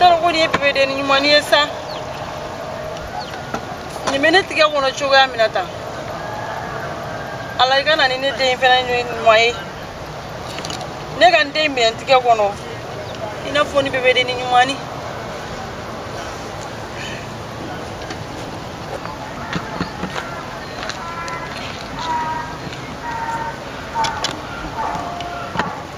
tɔrɔko de ye bebedenni ɲumanni ye sa nin bɛ ne tigɛ kɔnɔ cogoya min na tan ala i ka na ni ne den fana ɲuman ye ne ka n den minɛ n tigɛ kɔnɔ i n'a fɔ ni bebedenni ɲuman ni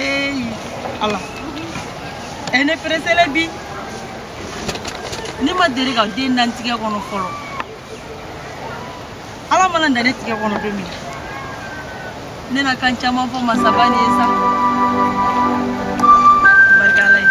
eyi ala ɛ ne pereselen bi ne ma deli ka den da n tigɛ kɔnɔ fɔlɔ ala man'a da ne tigɛ kɔnɔ don min ne na kan caman fɔ masaba ni ye sa barikala ye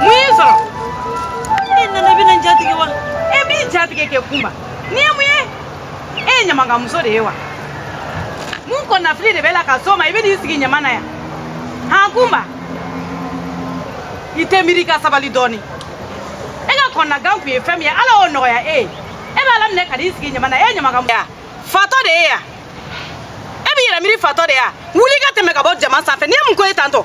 mun y'i sɔrɔ e nana i bɛna n jatigɛ wa e b'i jatigɛ kɛ kunba nin ye mun ye e ye ɲamankamuso de ye wa mun kɔnɔnafili de b'i la ka s'o ma i bɛ n'i sigi ɲama na yan han kunba i tɛ miiri i ka sabali dɔɔni e ka kɔnɔnagan tun ye fɛn min ye ala y'o nɔgɔya e ye e b'a laminɛ ka n'i sigi ɲama na e ye ɲamankamuso fatɔ de ye yan e b'i yɛrɛ miiri fatɔ de ye yan wuli ka tɛmɛ ka bɔ ɲama sanfɛ nin ye mun ko ye tantɔ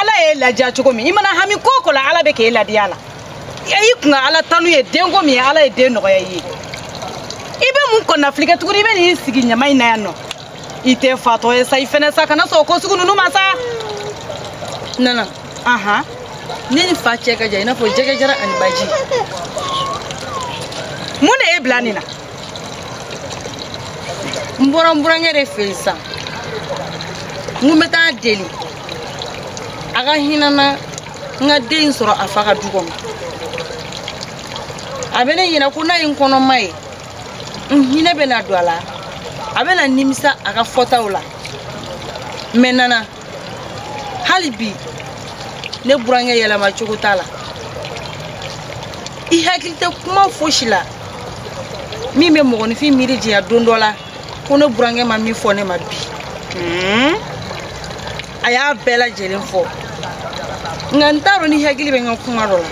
ala y'e ladiya cogo min i mana hami ko o ko la ala bɛ k'e ladiya a la i kun ka ala tanu ye denko min ye ala ye den nɔgɔya i ye i bɛ mun kɔnɔnafili kɛ tuguni i bɛ n'i sigi ɲama in na yan nɔ i tɛ fatɔ ye sa i fɛnɛ sa kana sɔn ko sugu ninnu ma sa nana ahan ne ni fa cɛ ka jan i n'a fɔ jɛgɛ jaran ani baji mun de y'i bila nin na n bɔra n burankɛ de fɛ yen sisan n ko n bɛ taa a deli a ka hinɛ n na n ka den sɔrɔ a fa ka du kɔnɔ a bɛ ne ɲɛna ko n'a ye n kɔnɔma ye n hinɛ bɛ na don a la a bɛ na nimisa a ka fɔtaw la mɛ nana hali bi ne burankɛ yɛlɛma cogo t'a la i hakili tɛ kuma fosi la min bɛ mɔgɔninfin miiri janya don dɔ la ko ne burankɛ ma min fɔ ne ma bi hmm? a y'a bɛɛ lajɛlen fɔ nka n t'a dɔn n'i hakili bɛ n ka kuma dɔ la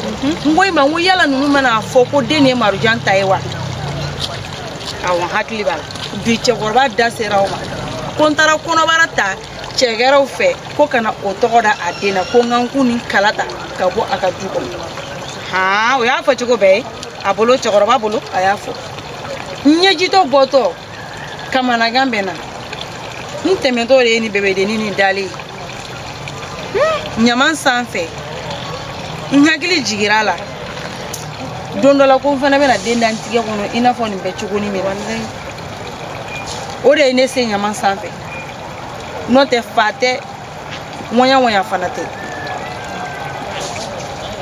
mhm. n ko i ma n ko yala ninnu mana a fɔ ko den nin ye marujan ta ye wa awɔ n hakili b'a la bi cɛkɔrɔba da sera o ma ko n taara kɔnɔbara ta cɛ gɛrɛw fɛ ko ka na o tɔgɔ da a den na ko n ka n kun ni kala ta ka bɔ a ka du kɔnɔ han o y'a fɔ cogo bɛɛ ye a bolo cɛkɔrɔba bolo a y'a fɔ n ɲɛjitɔ bɔtɔ kamanagan bɛ n na n tɛmɛtɔ de ye ni bebedenni ni dalen ye ɲaman sanfɛ n hakili jigira la don dɔ la ko n fana bɛna den da n tigɛ kɔnɔ i n'a fɔ nin bɛ cogoni min na o de ye ne se ɲaman sanfɛ n'o tɛ fa tɛ ŋɔɲa ŋɔɲa fana tɛ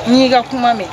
n y'i ka kuma mɛn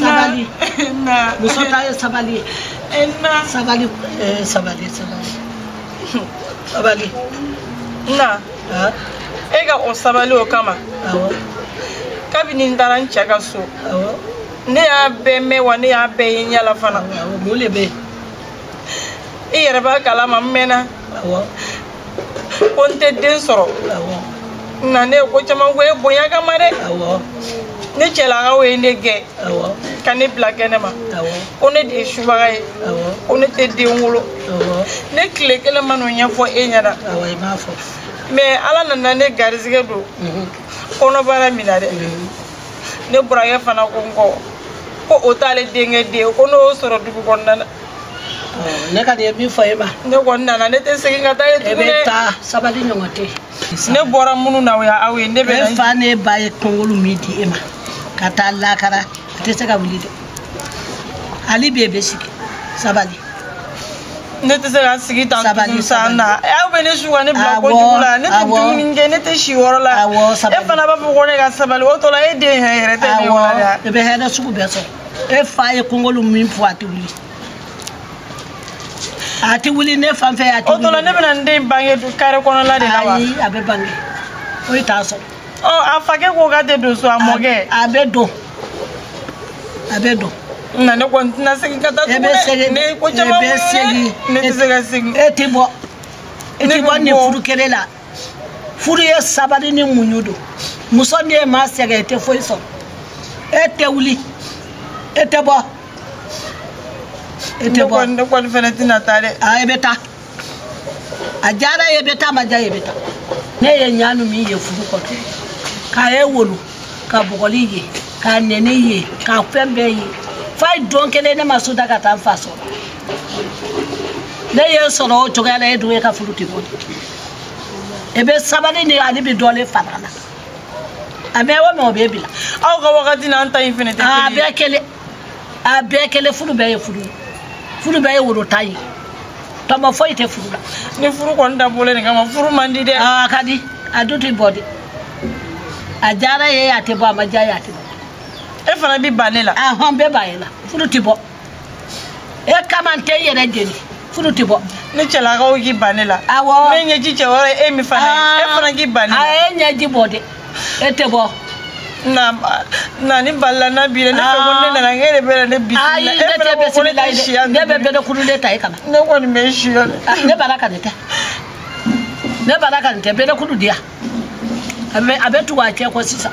sabali muso ta ye sabali ye sabali eh, sabali sabali sabali na e ka o sabali o kama kabini n taara n cɛ ka so ne y'a bɛɛ mɛn wa ne y'a bɛɛ ye n yala fana mun de bɛ yen i yɛrɛ b'a kalama n mɛnna ko n tɛ den sɔrɔ n na ne ye ko caman kɛ e bonya kama dɛ ne cɛlakaw ye ne gɛn ka ne bila kɛnɛ ma ko ne de ye subaga ye ko ne tɛ den wolo ne tile kelen ma n'o ɲɛfɔ e ɲɛna mɛ ala nana ne garizigɛ don mhm. kɔnɔbara minɛna dɛ mhm. ne burankɛ fana ko n kɔ ko o t'ale denkɛ den ye ko ne y'o sɔrɔ dugu kɔnɔna na ne kɔni bɛ min fɔ e ma ne kɔni nana ne tɛ segin ka taa yen tuguni dɛ taa sabali ɲɔgɔn tɛ ne bɔra minnu na o ye aw ye ne bɛ na fa ne ba ye kɔngolo min di e ma ka taa lakara a tɛ se ka wuli dɛ hali bi e bɛ sigi sabali ne tɛ se ka sigi tan tuguni san na aw bɛ ne su ka ne bila kojugu la ne tɛ dumuni kɛ ne tɛ si yɔrɔ la e fana b'a fɔ ko ne ka sabali o tɔ la e den yɛrɛ yɛrɛ tɛ ne yɔrɔ la e bɛ hɛrɛ sugu bɛɛ sɔrɔ e fa ye kongolu min fɔ a tɛ wuli a tɛ wuli ne fan fɛ a tɛ wuli o tɔla ne bɛna n den bange kare kɔnɔla de la wa ayi a bɛ bange o ye t'a sɔrɔ ɔ a fakɛ ko k'a tɛ don so a mɔkɛ a bɛ don a bɛ don na ne kɔni tɛna segin ka taa tugun dɛ ne ye ko caman muɲu ne tɛ se ka segin e tɛ bɔ e tɛ bɔ nin furu kɛlɛ la furu ye sabali ni muɲu don muso n'i ma sɛgɛn i tɛ foyi sɔrɔ e tɛ wuli e tɛ bɔ e tɛ bɔ ne kɔni fana tɛna taa dɛ a e bɛ taa a diyara e ye e bɛ taa a ma diya e ye e bɛ taa ne ye ɲani min ye furu kɔnɔ k'a ye wolo ka bugɔli ye ka nɛni ye ka fɛn bɛɛ ye f'a ye don kelen ne ma so da ka taa n fa sɔrɔ ne y'e sɔrɔ o cogoya la e dun e ka furu tɛ bɔn e bɛ sabali ni ale bɛ dɔlen fara la a mɛn o mɛn o bɛ bila aw ka wagati n'an ta in fɛnɛ tɛ kelen ye a bɛɛ kelen a bɛɛ kelen furu bɛɛ ye furu ye furu bɛɛ ye woro tan ye tɔnɔ foyi tɛ furu la ni furu kɔni dabɔlen nin kama furu man di dɛ a ka di a dun tɛ bɔ de a diyara i ye a tɛ bɔ a ma diya i ye a tɛ bɔ e fana bɛ ban ne la ahɔn n bɛ ban e la furu tɛ bɔ e kama n tɛ n yɛrɛ jeni furu tɛ bɔ ni cɛlakaw k'i ban ne la awɔ ne ɲɛji cɛ wɛrɛ ye e min fana ye e fana k'i ban ne la a ye ɲɛji bɔ dɛ e tɛ bɔ na na ni balila na bi ne fɛ ko ne nana e de bɛ ne bi ayi ne tɛ bɛ sini la ye ne bɛ bɛɛ kulu de ta e kana ne kɔni bɛ si yɔrɔ ne bala ka nin tɛ ne bala ka nin tɛ bɛɛ kulu di yan a bɛ a bɛ tugu a cɛ kɔ sisan.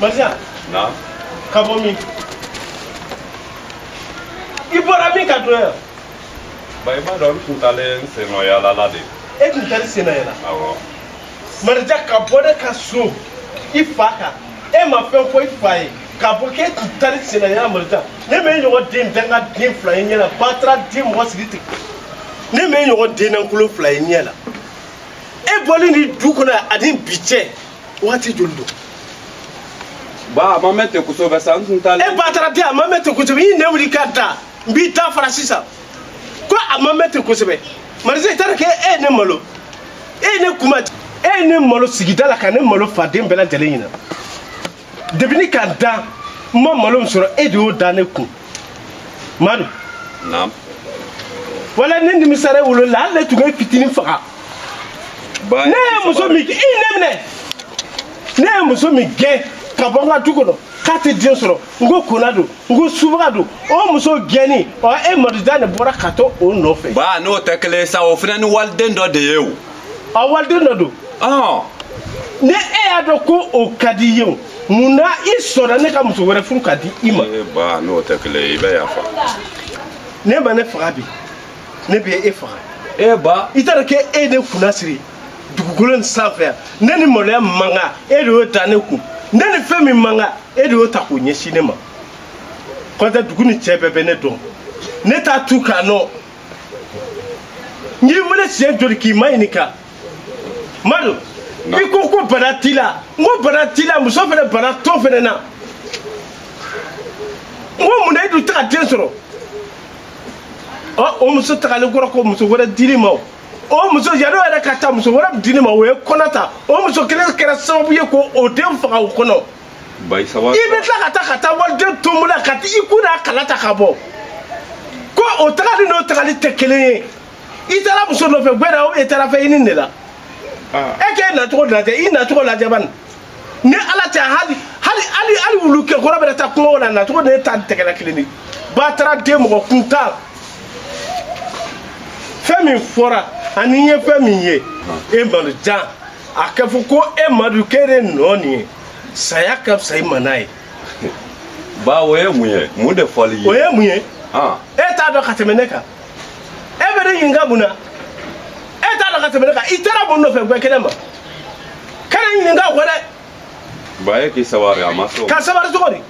Maria. Naam. Ka bɔ min? I bɔra min ka don yan? Ba i b'a dɔn n tun taalen sennayaala la de. E tun taalen sennayaala? Awɔ. marija ka bɔ ne ka so i fa kan e ma fɛn fɔ i fa ye k'a fɔ k'e tun taalen sennayaala marija ne m'e ɲɔgɔn den dangaden fila ye n ɲɛ la bataraden mɔgɔ sigi ten ne m'e ɲɔgɔn den lankolon fila ye n ɲɛ la e bɔli nin du kɔnɔ ani bi cɛ wagati joli don ba a ma mɛn ten kosɛbɛ sa n tun t'a e bataraden a ma mɛn ten kosɛbɛ i nɛ wuli ka da n b'i da fara sisan ko a ma mɛn ten kosɛbɛ marisa i taara kɛ e ye ne malo e ye ne kuma e ye ne malo sigida la ka ne malo faden bɛɛ lajɛlen ɲɛ na depi ne ka dan n ma malo min sɔrɔ e de y'o da ne kun madu naam walayi ne nimisara e wolo la hali ne tun b'i fitinin faga ne ye muso min i ne minɛ ne ye muso min gɛn ka bɔ n ka du kɔnɔ k'a tɛ den sɔrɔ n ko kona don n ko subaga don o muso gɛnni ɔ e madujan de bɔra ka to o nɔfɛ. ba n'o tɛ kelen ye sa o fana ni waliden dɔ de ye o. a waliden dɔ don. ɔn. ni e y'a dɔn ko o ka di i ye o mun na i sɔnna ne ka muso wɛrɛ furu ka di i ma. ee ba n'o tɛ kelen ye i bɛ yafa. n'e ma ne faga bi ne bɛ e faga. e ba. i t'a dɔn k'e ye ne kunnasiri. dugukolo in sanfɛ yan ne ni maloya min man kan e de y'o da ne kun ne ni fɛn min man kan e de y'o ta k'o ɲɛsin ne ma kɔntɛ dugu nin cɛ bɛɛ bɛ ne dɔn ne t'a tu k'a nɔ n y'i wele siɲɛ joli k'i maɲininka madu i ko ko bana t'i la n ko bana t'i la muso fana bana t'o fana na n ko mun na i dun tɛ ka den sɔrɔ ɔ o muso tagalen kɔrɔ ko muso wɛrɛ dir'i ma o o muso yanni o yɛrɛ ka taa muso wɛrɛ di ne ma o ye kɔnɔ ta o muso kelen kɛra sababu ye k'o den faga o kɔnɔ i bɛ tila ka taa ka taa waliden tɔmɔ la ka i kun n'a kala ta ka bɔ ko o tagali n'o tagali tɛ kelen ye i taara muso nɔfɛ gbɛdɛ o e taara fɛn ɲini de la e k'e nacogo lajɛ i nacogo lajɛ bani ni ala tɛ hali hali hali hali wulukɛ kɔrɔ bɛ taa kungo la nacogo de ye tan tɛgɛ lankolon de bataraden mɔgɔ kuntan fɛn min fɔra ani n ye fɛn min ye e madu yanni a ka fɔ ko e madu k'e de nɔ nin ye saya ka fisa i ma n'a ye ba o ye mun ye mun de fɔli ye o ye mun ye e t'a dɔn ka tɛmɛ ne kan e bɛ ne ɲininka mun na e t'a dɔn ka tɛmɛ ne kan i taara mun nɔfɛ guwɛ kɛnɛ ma kana n ɲininka o kɔ dɛ. ba e k'i sabari a ma sɔn. ka sabari cogo di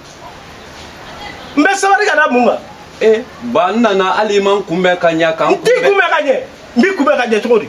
n bɛ sabari ka da mun kan. ee ba n nana hali i ma n kunbɛn ka ɲɛ ka n kunbɛn. n t'i kunbɛn ka ɲɛ n b'i kunbɛn ka ɲɛ cogo di.